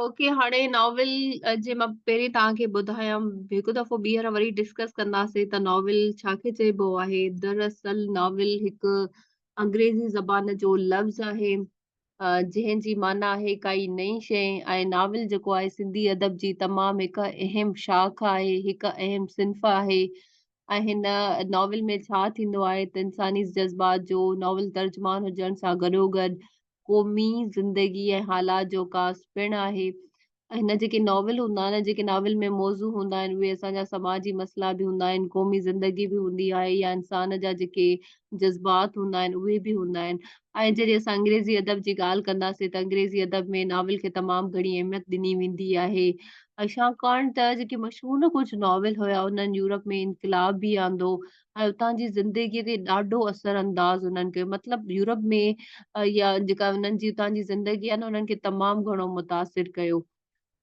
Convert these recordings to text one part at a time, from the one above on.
Okay هاڻي novel جي مان پهرين توهان کي ٻڌايم هڪ دفعو ٻيهر وري ڊسڪس ڪنداسين ته ناول ڇا کي چئبو آهي دراصل ناول هڪ انگريزي زبان جو لفظ آهي جنهن جي معنيٰ آهي ڪائي نئين شيء ۽ ناول جيڪو آهي سنڌي ادب جي تمام هڪ اهم شاخ آهي هڪ اهم صنف آهي ۽ هن ناول ۾ ڇا ٿيندو آهي ته انساني جذبات جو ناول ترجمان هجڻ سان گڏوگڏ قومي زندگي ۽ حالات جو عڪاس پڻ آهي. هن جيڪي ناول هوندا آهن، جيڪي ناول ۾ موضوع هوندا آهن، اهي اسان جا سماجي مسئلا به هوندا آهن، قومي زندگي به هوندي آهي يا انسان جا جيڪي جذبات هوندا آهن اهي به هوندا آهن ۽ جڏهن اسان انگريزي ادب جي ڳالهه ڪنداسين ته انگريزي ادب ۾ ناول کي تمام گهڻي اهميت ڏني ويندي آهي اشان ڪانٽ جا جيڪي مشهور ڪجهه ناول هيا انهن يورپ ۾ انقلاب به آندو ۽ اتان جي زندگي تي ڏاڍو اثر انداز انهن ڪيو مطلب يورپ ۾ يا جيڪا انهن جي اتان جي زندگي آهي نه انهن کي تمام گهڻو متاثر ڪيو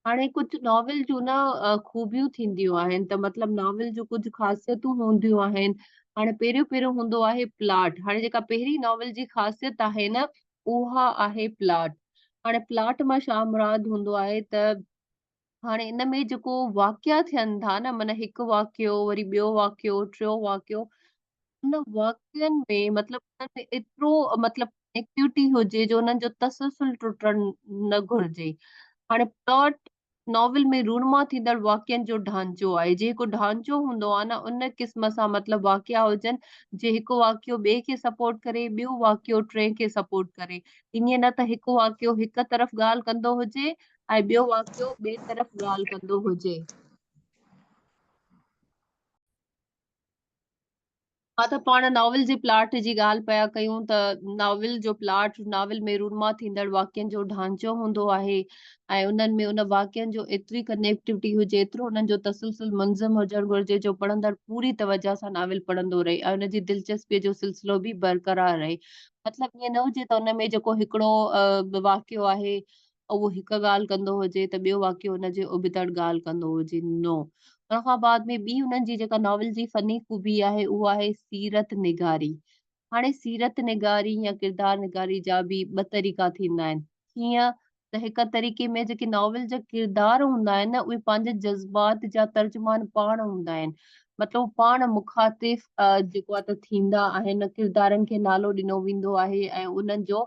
هاڻي ڪجهه ناول جون نه خوبيون ٿينديون آهن ته مطلب ناول جون ڪجهه خاصيتون هونديون آهن هاڻي پهريون پهريون هوندو آهي پلاٽ هاڻي جيڪا پهرين ناول جي خاصيت آهي نه اها آهي پلاٽ هاڻي پلاٽ مان شاهه مراد هوندو آهي ته هاڻي ان ۾ جيڪو واقعا ٿين ٿا نه معنی هڪ واقعو وري ٻيو واقعو ٽيو واقعو ان واقعن ۾ مطلب انهن ۾ ايترو مطلب ڪنيڪٽيوٽي هجي جو انهن جو تسلسل ٽٽڻ نه گهرجي. هاڻي پلاٽ ناول ۾ رونما ٿيندڙ واقعن جو ڍانچو آهي. جي هڪ ڍانچو هوندو آهي نه ان قسم سان مطلب واقعا هجن جي هڪ واقعو ٻئي کي سپورٽ ڪري ٻيو واقعو ٽئين کي سپورٽ ڪري ائين نه ته هڪ واقعو هڪ طرف ڳالهه ڪندو هجي ۽ ٻيو واقعو ٻئي طرف ڳالهه ڪندو هجي. ها ته پاڻ ناول جي پلاٽ جي ڳالهه پيا ڪيون ته ناول جو پلاٽ ناول ۾ رونما ٿيندڙ واقعن جو ڍانچو هوندو آهي ۽ انهن ۾ ان واقعن جو ايتري ڪنيڪٽيوٽي هجي ايترو انهن جو تسلسل منظم هجڻ گهرجي جو پڙهندڙ پوري توجه سان ناول پڙهندو رهي ۽ ان جي دلچسپي جو سلسلو به برقرار رهي مطلب ائين نه هجي ته ان ۾ جيڪو هڪڙو واقعو آهي اهو هڪ ڳالهه ڪندو هجي ته ٻيو واقعو ان جي ابتڙ ڳالهه ڪندو هجي. نو. ان کان بعد ۾ ٻي انهن جي جيڪا ناول جي فني خوبي آهي اهو آهي سيرت نگاري. هاڻي سيرت نگاري يا ڪردار نگاري جا به ٻه طريقا ٿيندا آهن. ڪيئن ته هڪ طريقي ۾ جيڪي ناول جا ڪردار هوندا آهن نه اهي پنهنجي جذبات جا ترجمان پاڻ هوندا آهن. مطلب هو پاڻ مخاطب جيڪو آهي ته ٿيندا آهن. ڪردارن کي نالو ڏنو ويندو آهي ۽ انهن جو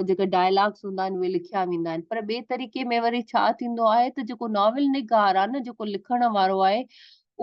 جيڪا ڊائلاگس هوندا آهن اهي لکيا ويندا آهن پر ٻئي طريقي ۾ وري ڇا ٿيندو آهي ته جيڪو ناول نگار آهي نه جيڪو لکڻ وارو آهي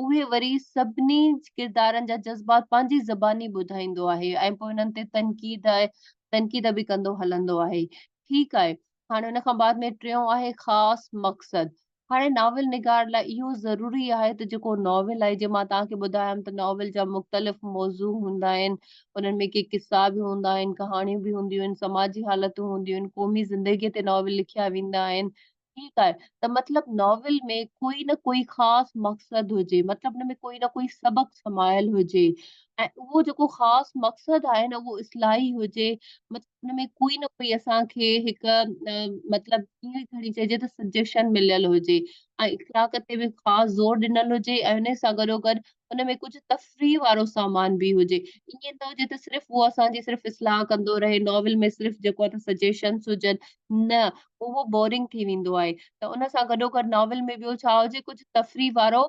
اهي وري سڀني ڪردارن جا جذبات پنهنجي زباني ٻڌائيندو آهي ۽ پوء انهن تي تنقيد آهي تنقيد به ڪندو هلندو آهي ٺيڪ آهي هاڻي ان کان بعد ۾ ٽيون آهي خاص مقصد هاڻي ناول نگار لاء اهو ضروري آهي ته جيڪو ناول آهي جيئن مان توهان کي ٻڌايم ته ناول جا مختلف موضوع هوندا آهن انهن ۾ ڪي قصا به هوندا آهن ڪهاڻيون به هونديون آهن سماجي حالتون هونديون آهن قومي زندگيء تي ناول لکيا ويندا آهن ٺيڪ آهي ته مطلب ناول ۾ ڪوئي نه ڪوئي خاص مقصد هجي مطلب ان ۾ ڪوئي نه ڪوئي سبق سمايل هجي ۽ اهو جيڪو خاص مقصد آهي نه اهو اصلاحي هجي مطلب ان ۾ ڪوئي نه ڪوئي اسان کي هڪ مطلب ائين کڻي چئجي ته سجيشن مليل هجي ۽ اخلاق تي به خاص زور ڏنل هجي ۽ ان سان گڏو گڏ ان ۾ ڪجهه تفريح وارو سامان به هجي ائين نه هجي ته صرف اهو اسانجي صرف اصلاح ڪندو رهي ناول ۾ صرف جيڪو آهي سجيشنس هجن نه اهو بورنگ ٿي ويندو آهي ته ان سان گڏو گڏ ناول ۾ ٻيو ڇا هجي ڪجهه تفريح وارو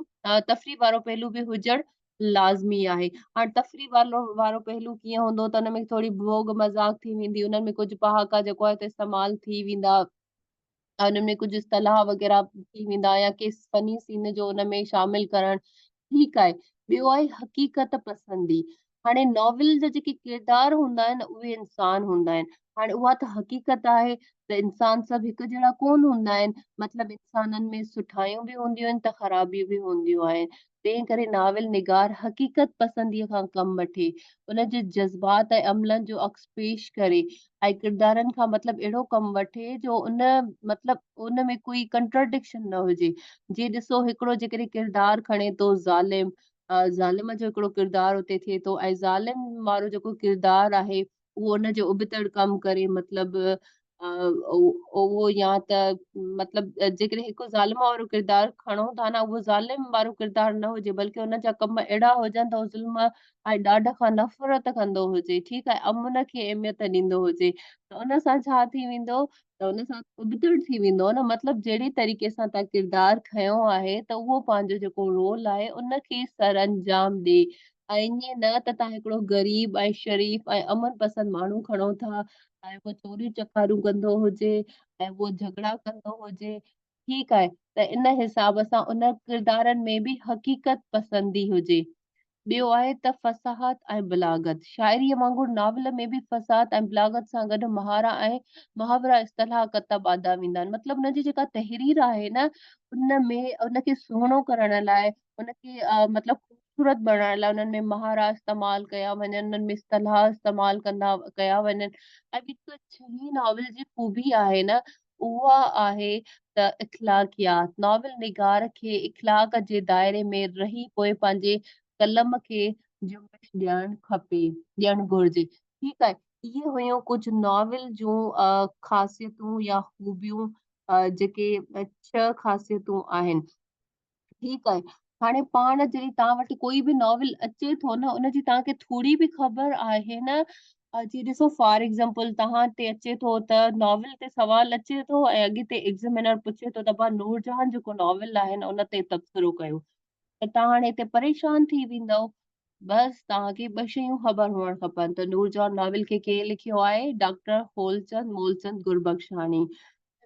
تفريح وارو پهلو به هجڻ لازمي آهي هاڻ تفريح وارو پهلو ڪيئن هوندو ته ان ۾ ٿوري ڀوڳ مذاق ٿي ويندي انهن ۾ ڪجهه پهاڪا جيڪو آهي ته استعمال ٿي ويندا انهن ۾ ڪجهه اصطلاح وغيره ٿي ويندا يا ڪي فني سين جو ان ۾ شامل ڪرڻ ٺيڪ آهي ٻيو آهي حقيقت پسندي هاڻي ناول جا جيڪي ڪردار هوندا آهن اهي انسان هوندا آهن هاڻي اها ته حقيقت آهي ته انسان سڀ هڪ جهڙا ڪون هوندا آهن مطلب انسانن ۾ سٺايون به هونديون آهن ته خرابيون به هونديون آهن تنهن ڪري ناول نگار حقيقت پسنديء کان ڪم وٺي، ان جي جذبات ۽ عملن جو عڪس پيش ڪري ۽ ڪردارن کان مطلب اهڙو ڪم وٺي جو ان مطلب ان ۾ ڪوئي ڪنٽراڊڪشن نه هجي. جي ڏسو هڪڙو جيڪڏهن ڪردار کڻي ٿو ظالم، ظالم جو هڪڙو ڪردار اتي ٿئي ٿو ۽ ظالم وارو جيڪو ڪردار آهي اهو ان جو ابتڙ ڪم ڪري مطلب اهو يا ته مطلب جيڪڏهن هڪ ظالم وارو ڪردار کڻو ٿا نه اهو ظالم وارو ڪردار نه هجي بلڪه ان جا ڪم اهڙا هجن ته ظلم ۽ ڏاڍ کان نفرت ڪندو هجي ٺيڪ آهي امن کي اهميت ڏيندو هجي ته ان سان ڇا ٿي ويندو ته ان سان ابتڙ ٿي ويندو نه مطلب جهڙي طريقي سان تان ڪردار کنيو آهي ته اهو پنهنجو جيڪو رول آهي ان کي سر انجام ڏي ۽ ائين نه ته تان هڪڙو غريب ۽ شريف ۽ امن پسند ماڻهو کڻو ٿا ۽ اهو چوريون چڪاريون ڪندو هجي ۽ اهو جهڳڙا ڪندو هجي ٺيڪ آهي ته ان حساب سان ان ڪردارن ۾ به حقيقت پسندي هجي ٻيو آهي ته فصاحت ۽ بلاغت. شاعريء وانگر ناول ۾ به فصاحت ۽ بلاغت سان گڏ مهارا ۽ محاورا اصطلاح ڪتا ٻاڌا ويندا آهن. مطلب ان جي جيڪا تحرير آهي نه ان ۾ ان کي سهڻو ڪرڻ لاء ان کي مطلب خوبصورت بڻائڻ لاء انهن ۾ مهارا استعمال ڪيا وڃن انهن ۾ اصطلاح استعمال ڪندا ڪيا وڃن ۽ هڪ ڇهين ناول جي خوبي آهي نه اها آهي ته اخلاقيات ناول نگار کي اخلاق جي دائري ۾ رهي پوء پنهنجي قلم کي جنبش ڏيڻ کپي، ڏيڻ گهرجي. ٺيڪ آهي، اهي هيون ڪجهه ناول جون خاصيتون يا خوبيون جيڪي ڇهه خاصيتون آهن. ٺيڪ آهي هاڻي پاڻ جي توهان وٽ ڪوئي به ناول اچي ٿو نه ان جي توهان کي ٿوري به خبر آهي نه جي ڏسو فار ايگزامپل توهان تي اچي ٿو ته ناول تي سوال اچي ٿو ۽ اڳتي ايگزامينر پڇي ٿو ته بابا نور جهان جيڪو ناول آهي نه ان تي تبصرو ڪيو ته توهان هاڻي هتي پريشان ٿي ويندو بس توهان کي ٻه شيون خبر هئڻ کپن ته نور جهان ناول کي ڪير لکيو آهي ڊاڪٽر هولچند مولچند گربخشاڻي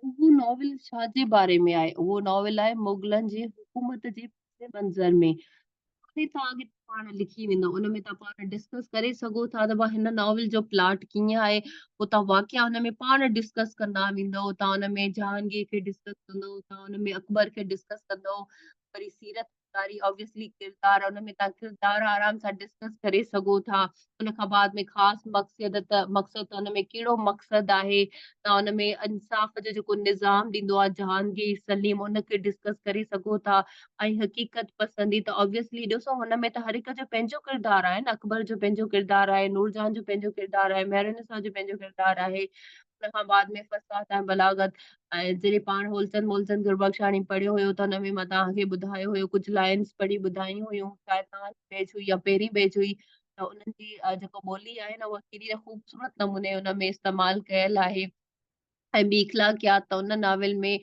اهو ناول ڇا جي باري ۾ آهي اهو ناول آهي مغلن جي حڪومت جي منظر ۾ ۾ تان اڳتي پاڻ لکي ويندو ان ۾ تان پاڻ ڊسڪس ڪري سگهو ٿا ته بھا هن ناول جو پلاٽ ڪيئن آهي پوء تان واقعا ان ۾ پاڻ ڊسڪس ڪندا ويندو تان ان ۾ جهانگير کي ڊسڪس ڪندو تان ان ۾ اڪبر کي ڊسڪس ڪندو وري سيرت ڪرداري اوبيسلي ڪردار ان ۾ تان ڪردار آرام سان ڊسڪس ڪري سگهو ٿا ان کان بعد ۾ خاص مقصد ته مقصد ته ان ۾ ڪهڙو مقصد آهي ته ان ۾ انصاف جو جيڪو نظام ڏيندو آهي جهانگير سليم ان کي ڊسڪس ڪري سگهو ٿا ۽ حقيقت پسندي ته اوبيسلي ڏسو هن ۾ ته هر هڪ جو پنهنجو ڪردار آهي نه اڪبر جو پنهنجو ڪردار آهي نورجهان جو پنهنجو ڪردار آهي مهرنسا جو پنهنجو ڪردار آهي ان کان بعد ۾ فصاحت ۽ بلاغت ۽ جڏهن پاڻ هولچند مولچند گربخشاڻي پڙهيو هيو ته ان ۾ مان توهان کي ٻڌايو هيو ڪجهه لائنز پڙهي ٻڌايون هيون شايد توهان جي بيچ هئي يا پهرين بيچ هئي ته انهن جي جيڪو ٻولي آهي نه اها ڪيڏي نه خوبصورت نموني ان ۾ استعمال ڪيل آهي ۽ ٻي اخلاقيات ته ان ناول ۾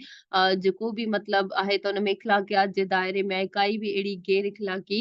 جيڪو به مطلب آهي ته ان ۾ اخلاقيات جي دائري ۾ ڪائي به اهڙي غير اخلاقي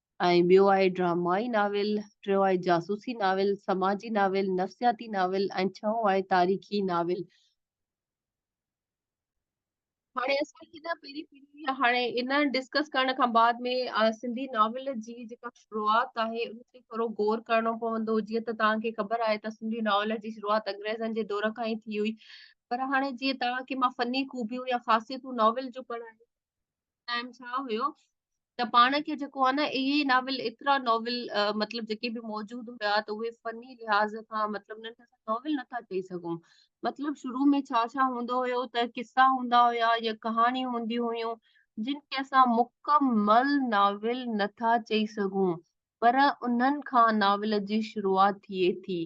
۽ ٻيو آهي ڊرامائي ناول، ٽيون آهي جاسوسي ناول، سماجي ناول، نفسياتي ناول ۽ ڇهون آهي تاريخي ناول. هاڻي اسان کي نه پهرين پهرين يا هاڻي ان ڊسڪس ڪرڻ کان بعد ۾ سنڌي ناول جي جيڪا شروعات آهي ان تي ٿورو غور ڪرڻو پوندو جيئن ته توهان کي خبر آهي ته سنڌي ناول جي شروعات انگريزن جي دور کان ئي ٿي هئي پر هاڻي جيئن توهان کي مان فني خوبيون يا خاصيتون ناول جون پڙهائي ٽائيم ڇا هيو ته پاڻ کي جيڪو آهي نه اهي ناول ايترا ناول مطلب جيڪي به موجود هيا ته اهي فني لحاظ کان مطلب انهن کي اسان ناول نٿا چئي سگهون مطلب شروع ۾ ڇا ڇا هوندو هيو ته قصا هوندا هيا يا ڪهاڻيون هونديون هيون جن کي اسان مڪمل ناول نٿا چئي سگهون پر انهن کان ناول جي شروعات ٿئي ٿي.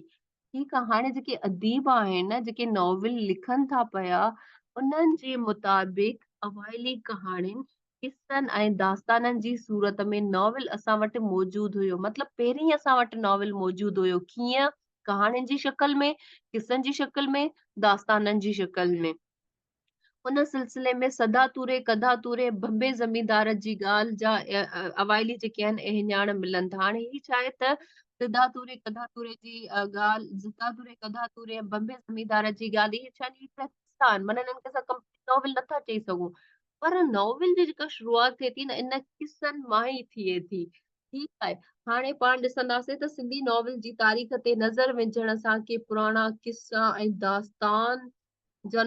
ٺيڪ آ هاڻي جيڪي اديب آهن جيڪي ناول لکن ٿا پيا انهن جي مطابق اوائلي ڪهاڻين، قصن ۽ داستانن جي صورت ۾ ناول اسان وٽ موجود هيو مطلب پهرين اسان وٽ ناول موجود هيو ڪيئن ڪهاڻين جي شڪل ۾، قصن جي شڪل ۾، داستانن جي شڪل ۾. ان سلسلي ۾ سدا توري ڪدا توري ڀنڀي زميندار جي ڳالهه جا اوائلي جيڪي آهن اهي نياڻ ملن ٿا هاڻي هي چاهي ته سدا توري ڪدا توري جي ڳالهه سدا توري ڪدا توري ڀنڀي زميندار جي ڳالهه اهي چاهي هي قصا آهن معنی انهن کي اسان ڪمپليٽ ناول نٿا چئي سگهون پر ناول جي جيڪا شروعات ٿئي ٿي نه ان قصن مان ئي ٿئي ٿي ٺيڪ آهي هاڻي پاڻ ڏسنداسين ته سنڌي ناول جي تاريخ تي نظر وجهڻ سان ڪي پراڻا قصا ۽ داستان جا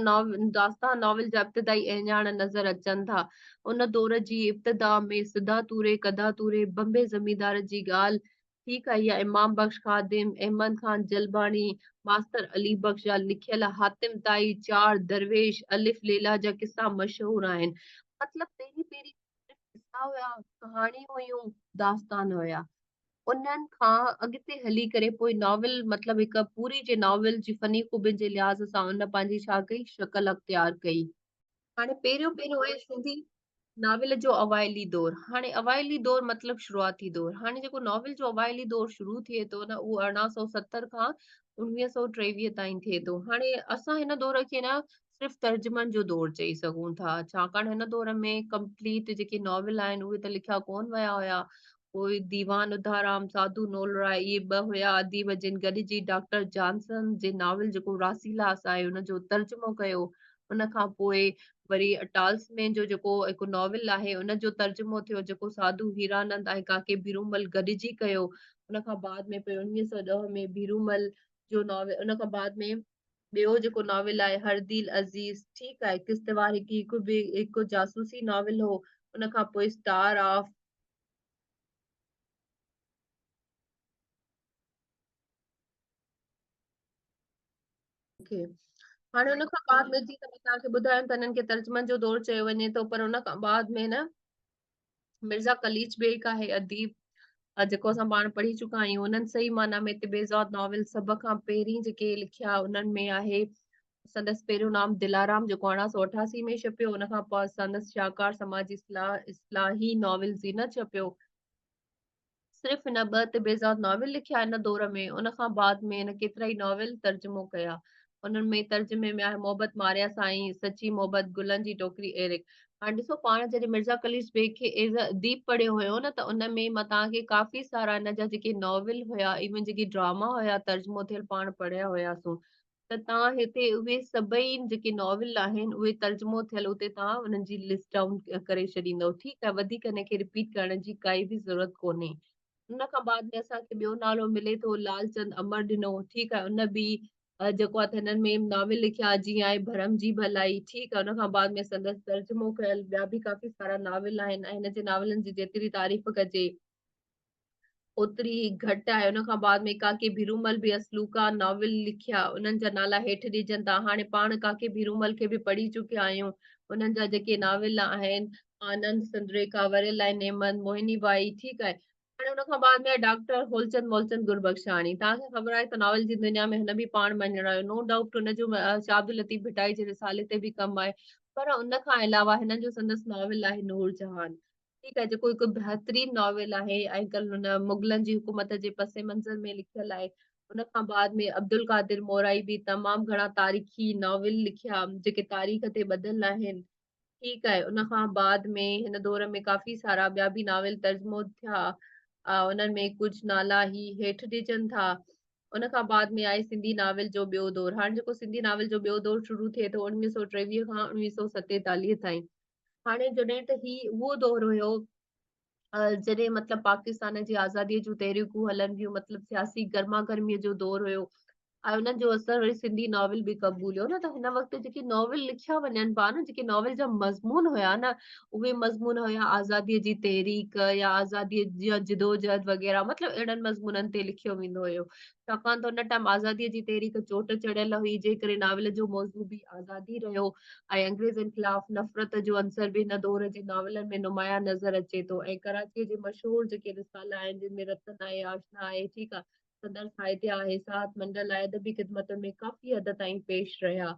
داستان ناول جا ابتدائي اهڃاڻ نظر اچن ٿا. ان دور جي ابتدا ۾ سڌا توري ڪڌا توري بمبي زميندار جي ڳالهه ٿي ڪئي يا امام بخش خادم، احمد خان جلباڻي، ماستر علي بخش جا لکيل حاتم طائي، چار درويش، الف ليلا جا قصا مشهور آهن. مطلب پهرين پهرين صرف قصا هيا، ڪهاڻيون هيون، داستان هيا. انهن کان اڳتي هلي ڪري پوء ناول مطلب هڪ پوري جي ناول جي فني خوبين جي لحاظ سان ان پنهنجي ڇا ڪئي شڪل اختيار ڪئي. هاڻي پهريون پهريون آهي سنڌي ناول جو اوائلي دور هاڻي اوائلي دور مطلب شروعاتي دور هاڻي جيڪو ناول جو اوائلي دور شروع ٿئي ٿو نه اهو ارڙهن سؤ ستر کان انويهه سؤ ٽيويهه تائين ٿئي ٿو هاڻي اسان هن دور کي نه صرف ترجمن جو دور چئي سگهون ٿا ڇاڪاڻ هن دور ۾ ڪمپليٽ جيڪي ناول آهن اهي ته لکيا ڪون ويا هيا پوء ديوان ادارام، ساڌو نولراء، اهي ٻه هيا اديب جن گڏجي ڊاڪٽر جانسن جي ناول جيڪو راسيلاس آهي ان جو ترجمو ڪيو. ان کان پوء وري اٽالسمين جو جيڪو هڪ ناول آهي ان جو ترجمو ٿيو جيڪو ساڌو هيرانند ۽ ڪاڪي ڀيرومل گڏجي ڪيو. ان کان بعد ۾ پوء اڻويهه سؤ ڏهه ۾ ڀيرومل جو ناول ان کان بعد ۾ ٻيو جيڪو ناول آهي هرديل عزيز ٺيڪ آهي ڪشتوار هڪ هڪ به هڪ جاسوسي ناول هو ان کان پوء اسٽار آف هاڻي ان کان بعد ۾ جي توهان کي ٻڌايم ته هنن کي ترجمن جو دور چيو وڃي ٿو پر ان کان بعد ۾ نه مرزا قليچ بي هڪ آهي اديب جيڪو اسان پاڻ پڙهي چڪا آهيون انهن صحيح معنيٰ ۾ طبيزاد ناول سڀ کان پهرين جيڪي لکيا انهن ۾ آهي سندس پهريون نام دلارام جيڪو ارڙهن سؤ اٺاسي ۾ ڇپيو ان کان پوء سندس شاهڪار سماجي اصلاحي ناول زينت ڇپيو صرف هن ٻه طبي ذات ناول لکيا ان دور ۾ ان کان بعد ۾ هن ڪيترائي ناول ترجمو ڪيا انهن ۾ ترجمي ۾ آهي محبت ماريا سائين سچي محبت گلن جي ٽوڪري ايرڪ هاڻي ڏسو پاڻ جڏهن مرزا قليس بيگ کي ايز اديب پڙهيو هيو نه ته ان ۾ مان توهان کي ڪافي سارا ان جا جيڪي ناول هيا ايون جيڪي ڊراما هيا ترجمو ٿيل پاڻ پڙهيا هياسون ته توهان هتي اهي سڀئي جيڪي ناول آهن اهي ترجمو ٿيل اتي توهان انهن جي لسٽ ڊائون ڪري ڇڏيندو ٺيڪ آهي وڌيڪ ان کي رپيٽ ڪرڻ جي ڪائي به ضرورت ڪونهي ان کان بعد ۾ اسان کي ٻيو نالو ملي ٿو لال چند امر ڏنو ٺيڪ آهي ان به جيڪو آهي هنن ۾ ناول لکيا جيئن آهي ڀرم جي ڀلائي ٺيڪ آهي ان کان بعد ۾ سندس ترجمو ڪيل ٻيا به ڪافي سارا ناول آهن ۽ هن جي ناولن جي جيتري تعريف ڪجي اوتري ئي گهٽ آهي. ان کان بعد ۾ ڪاڪي ڀيرومل به اصلوڪا ناول لکيا. انهن جا نالا هيٺ ڏجن ٿا. هاڻي پاڻ ڪاڪي ڀيرومل کي به پڙهي چڪيا آهيون. انهن جا جيڪي ناول آهن. آنند سندريکا، وريل ۽ نيمن، موهني ٻائي، ٺيڪ آهي. هاڻي ان کان بعد ۾ ڊاڪٽر هولچند مولچند گربخشاڻي. توهان کي خبر آهي ته ناول جي دنيا ۾ هن به پاڻ مڃڻ آيو. نو ڊائوٽ هن جو شاهه عبداللطيف ڀٽائي جي رسالي تي به ڪم آهي. پر ان کان علاوه هن جو سندس ناول آهي نور جهان. ٺيڪ آهي جيڪو هڪ بهترين ناول آهي ۽ ڪل هن مغلن جي حڪومت جي پس منظر ۾ لکيل آهي ان کان بعد ۾ عبدالقادر مورائي به تمام گهڻا تاريخي ناول لکيا جيڪي تاريخ تي ٻڌل آهن ٺيڪ آهي ان کان بعد ۾ هن دور ۾ ڪافي سارا ٻيا به ناول ترجمو ٿيا انهن ۾ ڪجهه نالا هي هيٺ ڏجن ٿا ان کان بعد ۾ آئي سنڌي ناول جو ٻيو دور هاڻي جيڪو سنڌي ناول جو ٻيو دور شروع ٿئي ٿو اڻويهه سو ٽيويهه کان اڻويهه سو ستيتاليهه تائين هاڻي جڏهن ته هي اهو دور هيو جڏهن مطلب پاڪستان جي آزادي جون تحريڪون هلن پيون مطلب سياسي گرما گرمي جو دور هيو ۽ انهن جو اثر وري سنڌي ناول به قبول هيو نه ته هن وقت جيڪي ناول لکيا وڃن پيا نه جيڪي ناول جا مضمون هيا نه اهي مضمون هيا آزادي جي تحريڪ يا آزادي جا جدوجهد وغيره مطلب اهڙن مضمونن تي لکيو ويندو هيو ڇاڪاڻ ته ان ٽائيم آزاديء جي تحريڪ چوٽ چڙهيل هئي، جيڪڏهن ناول جو موضوع به آزادي رهيو ۽ انگريزن خلاف نفرت جو عنصر به ان دور جي ناولن ۾ نمايان نظر اچي ٿو ۽ ڪراچيء جي مشهور جيڪي رسالا آهن، جن ۾ رتن آهي، آشنا آهي، ٺيڪ آ، سندر ساهتيه آهي، ساهت منڊل آهي، ادبي خدمتن ۾ ڪافي حد تائين پيش رهيا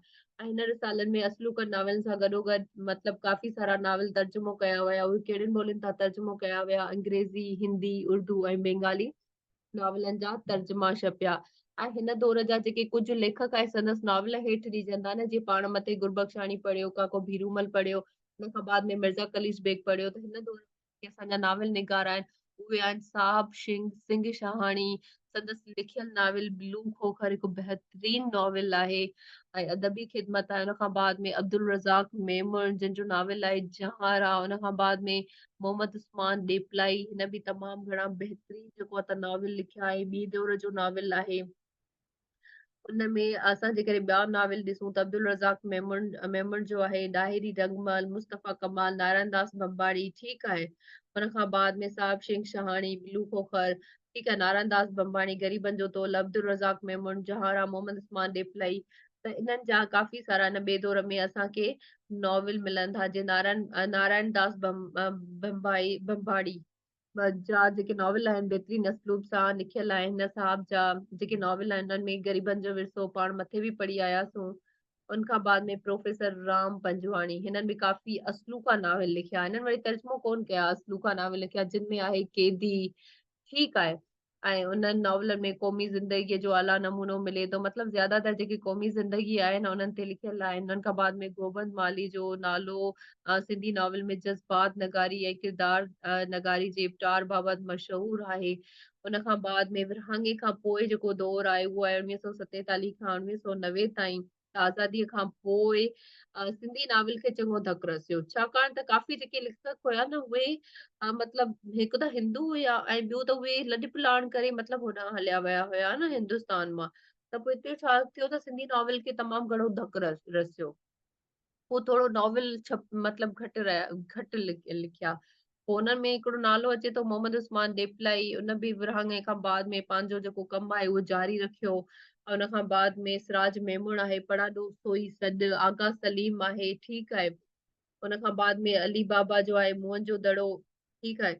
۽ هن رسالن ۾ اصلوڪن ناولن سان گڏوگڏ مطلب ڪافي سارا ناول ترجمو ڪيا ويا، اهي ڪهڙين ٻولين تان ترجمو ڪيا ويا، انگريزي، هندي، اردو ۽ بينگالي. ناولن جا ترجما ڇپيا ۽ هن دور جا جيڪي ڪجهه ليکڪ ۽ سندس ناول هيٺ ڏجن ٿا نه جي پاڻ مٿي گربخشاڻي پڙهيو ڪاڪو ڀيرومل پڙهيو ان کان بعد ۾ مرزا قليس بيگ پڙهيو ته هن دور جيڪي اسان جا ناول نگار آهن اهي آهن صاحب شنگ سنگ شاهاڻي سندس لکيل ناول بلو کوکر هڪ بهترين ناول آهي ۽ ادبي خدمت آهي ان کان بعد ۾ عبدالرزاق ميمڻ جن جو ناول آهي جهارا ان کان بعد ۾ محمد عثمان ڏيپلائي هن به تمام گهڻا بهترين جيڪو آهي ته ناول لکيا آهي ٻي دور جو ناول آهي ان ۾ اسان جي ڪري ٻيا ناول ڏسون ته عبدالرزاق ميمن ميمن جو آهي ڏاهري رنگمل مصطفيٰ ڪمال نارائن داس بمباڙي ٺيڪ آهي ان کان بعد ۾ صاحب شيخ شهاڻي بلو کوخر ٺيڪ آهي نارائن داس بمباڻي غريبن جو تول عبدالرزاق ميمن جهانرام محمد عثمان ڏيپلائي ته انهن جا ڪافي سارا ان ٻئي دور ۾ اسان کي ناول ملن ٿا جيئن نارائڻ نارائڻ داس بمباهي بمباڙي جا جيڪي ناول آهن بهترين اسلوب سان لکيل آهن هن صاحب جا جيڪي ناول آهن انهن ۾ غريبن جو ورثو پاڻ مٿي به پڙهي آياسون ان کان بعد ۾ پروفيسر رام پنجواڻي هنن به ڪافي اسلوڪا ناول لکيا هنن وري ترجمو ڪون ڪيا اسلوڪا ناول لکيا جن ۾ آهي قيدي ٺيڪ آهي ۽ انهن ناولن ۾ قومي زندگيء جو اعليٰ نمونو ملي ٿو مطلب زياده تر جيڪي قومي زندگي آهي نه انهن تي لکيل آهن انهن کان بعد ۾ گوبند مالهي جو نالو سنڌي ناول ۾ جذبات نگاري ۽ ڪردار نگاري جي اپٽار بابت مشهور آهي ان کان بعد ۾ ورهاڱي کان پوء جيڪو دور آهي اهو آهي اڻويهه سؤ ستيتاليهه کان اڻويهه سؤ نوي تائين آزاديء کان پوء سنڌي ناول کي چڱو ڌڪ رسيو ڇاڪاڻ ته ڪافي جيڪي ليکڪ هيا نه اهي مطلب هڪ ته هندو هيا ۽ ٻيو ته اهي لڏ پلاڻ ڪري مطلب هوڏانهن هليا ويا هيا نه هندستان مان ته پوء اتي ڇا ٿيو ته سنڌي ناول کي تمام گهڻو ڌڪ رسيو هو ٿورو ناول مطلب گهٽ گهٽ لکيا پوء انهن ۾ هڪڙو نالو اچي ٿو محمد عثمان ڏيپلائي ان به ورهاڱي کان بعد ۾ پنهنجو جيڪو ڪم آهي اهو جاري رکيو ان کان بعد ۾ سراج ميمڻ آهي پڙاڏو سوئي سڏ آغا سليم آهي ٺيڪ آهي ان کان بعد ۾ علي بابا جو آهي منهن جو دڙو ٺيڪ آهي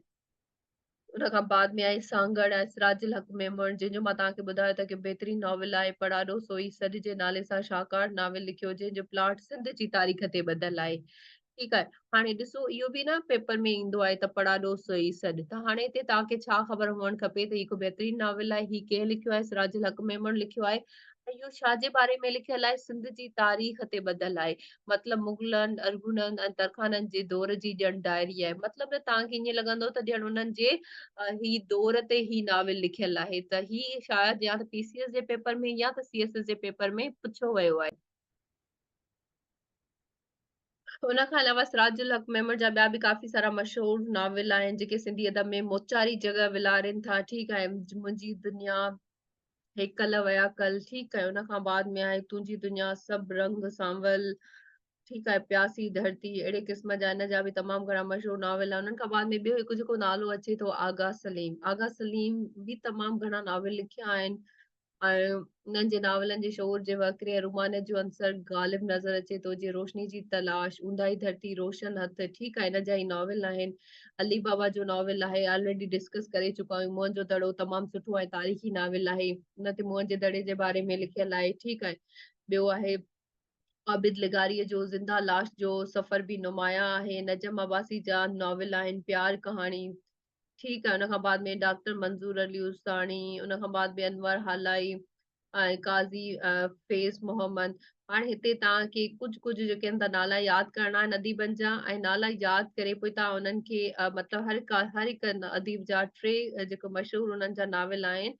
ان کان بعد ۾ آئي سانگهڙ ۽ سراج الحق ميمڻ جنهن جو مان توهان کي ٻڌايو ته ڪي بهترين ناول آهي پر آڏو سوئي سڏ جي نالي سان شاهڪار ناول لکيو جنهن جو پلاٽ سنڌ جي تاريخ تي ٻڌل آهي ٺيڪ آهي هاڻي ڏسو اهو به نه پيپر ۾ ايندو آهي ته پڙاڏو سوئي سڏ ته هاڻي هتي توهان کي ڇا خبر هئڻ کپي ته هي ڪو بهترين ناول آهي هي ڪنهن لکيو آهي سراج الحق ميمڻ لکيو آهي اهو شاهه جي باري ۾ لکيل آهي سنڌ جي تاريخ تي ٻڌل آهي مطلب مغلن، ارغونن ۽ ترخانن جي دور جي ڄڻ ڊائري آهي. مطلب ته توهان کي ائين لڳندو ته ڄڻ انهن جي هي دور تي هي ناول لکيل آهي ته هي شايد يا ته پي سي ايس جي پيپر ۾ يا ته سي ايس ايس جي پيپر ۾ پڇيو ويو آهي. ان کان علاوه سراج الحق ميمڻ جا ٻيا به ڪافي سارا مشهور ناول آهن جيڪي سنڌي ادب ۾ موچاري جڳهه ولارين ٿا ٺيڪ آهي منهنجي دنيا هي ڪل ويا ڪل ٺيڪ آهي ان کان بعد ۾ آهي تنهنجي دنيا سڀ رنگ سانول ٺيڪ آهي پياسي ڌرتي اهڙي قسم جا ان جا به تمام گهڻا مشهور ناول آهن انهن کان بعد ۾ ٻيو هڪ جيڪو نالو اچي ٿو آغا سليم آغا سليم به تمام گهڻا ناول لکيا آهن ۽ انهن جي ناولن جي شعور جي وڪري ۽ رومانيت جو عنصر غالب نظر اچي ٿو جيئن روشني جي تلاش اونداهي ڌرتي روشن هٿ ٺيڪ آهي ان جا هي ناول آهن علي بابا جو ناول آهي آلريڊي ڊسڪس ڪري چڪا آهيون موهن جو دڙو تمام سٺو ۽ تاريخي ناول آهي ان تي موهن جي دڙي جي باري ۾ لکيل آهي ٺيڪ آهي ٻيو آهي عابد لغاري جو زنده لاش جو سفر به نمايان آهي نجم عباسي جا ناول آهن پيار ڪهاڻي ٺيڪ آهي ان کان بعد ۾ ڊاڪٽر منظور علي عثاڻي ان کان بعد ۾ انور هالائي ۽ قاضي فيض محمد هاڻ هتي توهان کي ڪجهه ڪجهه جيڪي آهن نالا ياد ڪرڻا آهن اديبن جا ۽ نالا ياد ڪري پوء توهان انهن کي مطلب هر هڪ هر هڪ اديب جا ٽي جيڪو مشهور انهن جا ناول آهن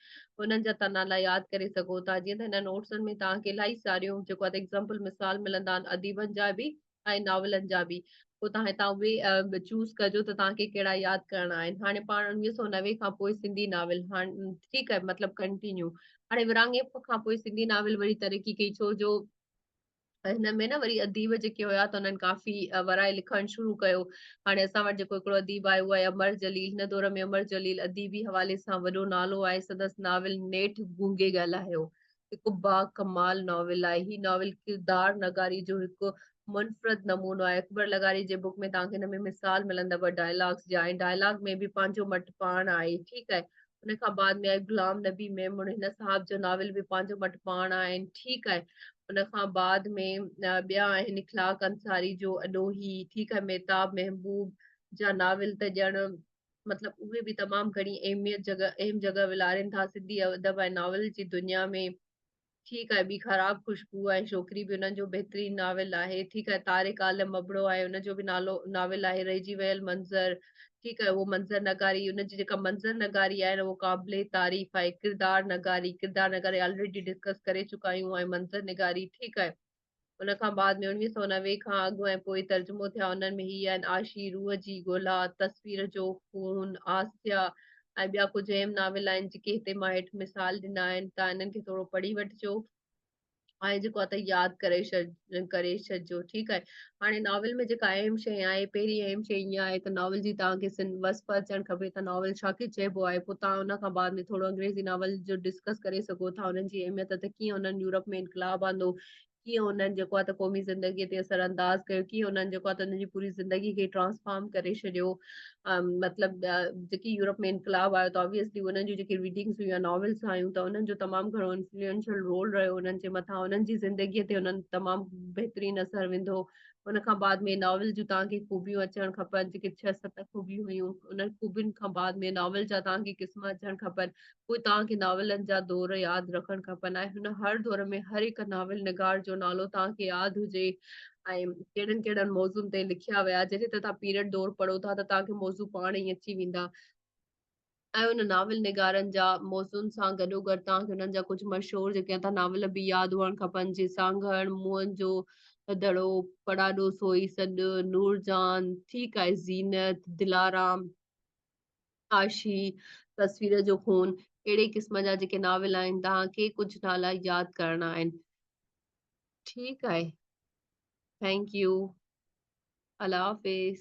انهن جا توهان نالا ياد ڪري سگهو ٿا جيئن ته هن نوٽسن ۾ توهان کي الاهي ساريون جيڪو ايگزامپل مثال ملندا آهن اديبن جا به ۽ ناولن جا به پوء توهان هتان اهي چوز ڪجو ته توهان کي ڪهڙا ياد ڪرڻا آهن هاڻي پاڻ اڻويهه سؤ نوي کان پوء سنڌي ناول هاڻ ٺيڪ آهي مطلب ڪنٽينيو هاڻي ورهاڱي کان پوء سنڌي ناول وري ترقي ڪئي ڇو جو هن ۾ نه وري اديب جيڪي هيا ته انهن ڪافي ورائي لکڻ شروع ڪيو هاڻي اسان وٽ جيڪو هڪڙو اديب آيو آهي امر جليل هن دور ۾ امر جليل اديبي حوالي سان وڏو نالو آهي سندس ناول نيٺ گونگي ڳالهايو هڪ باڪمال ناول آهي. هي ناول ڪردار نگاري جو هڪ منفرد نمونو آهي. اڪبر لغاري جي بوڪ ۾ توهان کي ان ۾ مثال ملندؤ ڊائلاگز جا ۽ ڊائلاگ ۾ به پنهنجو مٽ پاڻ آهي. ٺيڪ آهي. ان کان بعد ۾ آهي غلام نبي ميمڻ. هن صاحب جو ناول به پنهنجو مٽ پاڻ آهن. ٺيڪ آهي. ان کان بعد ۾ ٻيا آهن اخلاق انصاري جو اڏوهي. ٺيڪ آهي. مهتاب محبوب جا ناول ته ڄڻ مطلب اهي به تمام گهڻي اهميت جڳهه اهم جڳهه ولارين ٿا سنڌي ادب ۽ ناول جي دنيا ۾ ٺيڪ آهي ٻي خراب خوشبو ۽ شوڪري به انهن جو بهترين ناول آهي ٺيڪ آهي طارق عالم مبڙو آهي ان جو به نالو ناول آهي رهجي ويل منظر ٺيڪ آهي اهو منظر نگاري ان جي جيڪا منظر نگاري آهي اهو قابل تعريف آهي ڪردار نگاري ڪردار نگاري آلريڊي ڊسڪس ڪري چڪا آهيون ۽ منظر نگاري ٺيڪ آهي ان کان بعد ۾ اڻويهه سؤ نوي کان اڳ ۽ پوء ترجمو ٿيا انهن ۾ هي آهن عاشي، روح جي ڳولا، تصوير جو خون، آسيا ۽ ٻيا ڪجهه اهم ناول آهن جيڪي هتي مان هيٺ مثال ڏنا آهن تان انهن کي ٿورو پڙهي وٺجو ۽ جيڪو اٿئي ياد ڪري ڪري ڇڏجو ٺيڪ آهي هاڻي ناول ۾ جيڪا اهم شيء آهي پهرين اهم شيء اها آهي ته ناول جي توهان کي سن وصف اچڻ کپي ته ناول ڇا کي چئبو آهي پوء توهان ان کان بعد ۾ ٿورو انگريزي ناول جو ڊسڪس ڪري سگهو ٿا انهن جي اهميت ته ڪيئن انهن يورپ ۾ انقلاب آندو، ڪيئن انهن جيڪو آهي ته قومي زندگيء تي اثر انداز ڪيو، ڪيئن انهن جيڪو آهي ته انهن جي پوري زندگي کي ٽرانسفارم ڪري ڇڏيو. مطلب جيڪي يورپ ۾ انقلاب آيو ته آبويسلي انهن جون جيڪي ريڊنگس هيون يا ناولس آيون ته انهن جو تمام گهڻو انفلوئنشل رول رهيو انهن جي مٿان، انهن جي زندگيء تي انهن تمام بهترين اثر وڌو. ان کان بعد ۾ ناول جون توهان کي خوبيون اچڻ کپن، جيڪي ڇهه ست خوبيون هيون، انهن خوبين کان بعد ۾ ناول جا توهان کي قسم اچڻ کپن، پوء توهان کي ناولن جا دور ياد رکڻ کپن ۽ هن هر دور ۾ هر هڪ ناول نگار جو نالو توهان کي ياد هجي ۽ ڪهڙن ڪهڙن موضوعن تي لکيا ويا جڏهن ته توهان پيريڊ دور پڙهو ٿا ته توهان کي موضوع پاڻ ئي اچي ويندا ۽ انهن ناول نگارن جا موضوعن سان گڏوگڏ توهان کي انهن جا ڪجهه مشهور جيڪي اٿا ناول به ياد هئڻ کپن جي سانگهڙ موهن جو دڙو پڙاڏو سوئي سڏ نورجهان ٺيڪ آهي زينت دلارام عاشي، تصوير جو خون، اهڙي قسم جا جيڪي ناول آهن، توهان کي ڪجهه نالا ياد ڪرڻا آهن. ٺيڪ آهي. Thank you. الله حافظ.